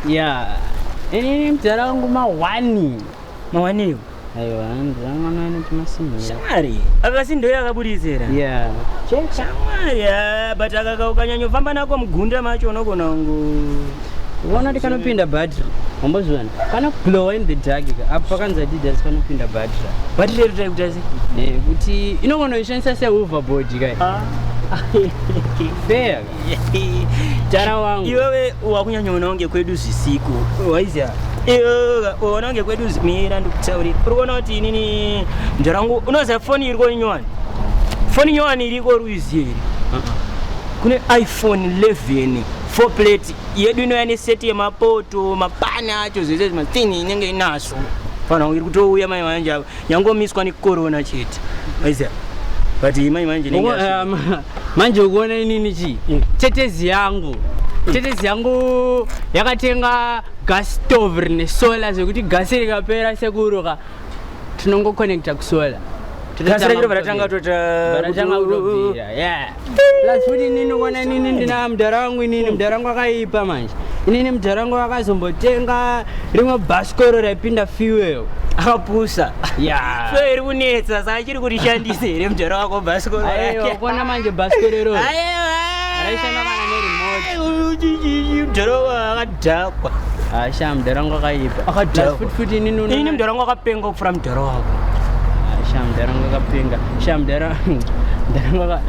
ya ini mdara wangu mawani mawaniwo aiwa mdara wangu anowana chimasimba shamwari akasi ndoyo akaburisira ya shamwari ah, but akaka ukanyanyofamba nako mugunda macho unogona kungu uona kuti kanopinda battery wambozviona kana glowa in the dark ka apo pakanzi adidas panopinda battery battery iri tai kutasi Eh, kuti inogona kuishandisa sehoverboard kai Ah. fair Jara wangu. Iwewe wakunyanya unawo ngekwedu zvisiku. Waizia. Iwewe unawo ngekwedu mira ndikutaurira. Uri kuona kuti inini mjara wangu unoziva foni iriko inyowani. Foni inyowani iriko ruiziye iri. Kune iPhone 11 four plate yedu inouya neseti yemapoto mapani acho zvese zvimatini inenge inaso. Fana iri kutouya mai vanje ava. yangomiswa nekorona chete aiziva but imai manje manje ukuona inini chii mm. tetezi yangu mm. tetezi yangu yakatenga gas stove rine solar zvekuti gasi rikapera sekuruka tinongoconnecta kusolar gasi rakiro varatanga totanga kutobvira yeah Plus futi inini kuona inini ndina mudhara wangu inini mudhara wangu akaipa manje. Inini mudhara wangu akazombotenga rimwe bhasikoro raipinda fuel. Akapusa. Yeah. So iri kunetsa saka chiri kuti shandise here mudhara wako bhasikoro rake. Aiwa kuona manje bhasikoro iroro. Aiwa. Raishanda kana neremote. Mudhara wako Dhakwa. Asha ah, mdara wangu akaipa. Akadhakwa. Futi futi ini nuna. Ini mdara wangu akapenga kufura mdara wako. Asha ah, mdara wangu akapenga. Asha mdara mdara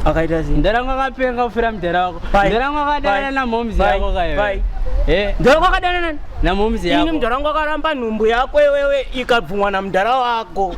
akaita sei? Mdara wangu akapenga kufura mdara wako. Mdara wangu akadana na momz yako kayo. Bye. Eh. Mdara wangu akadana na momz yako. Ini mdara wangu akaramba nhumbu yako wewe ikabvumwa na mdara wako.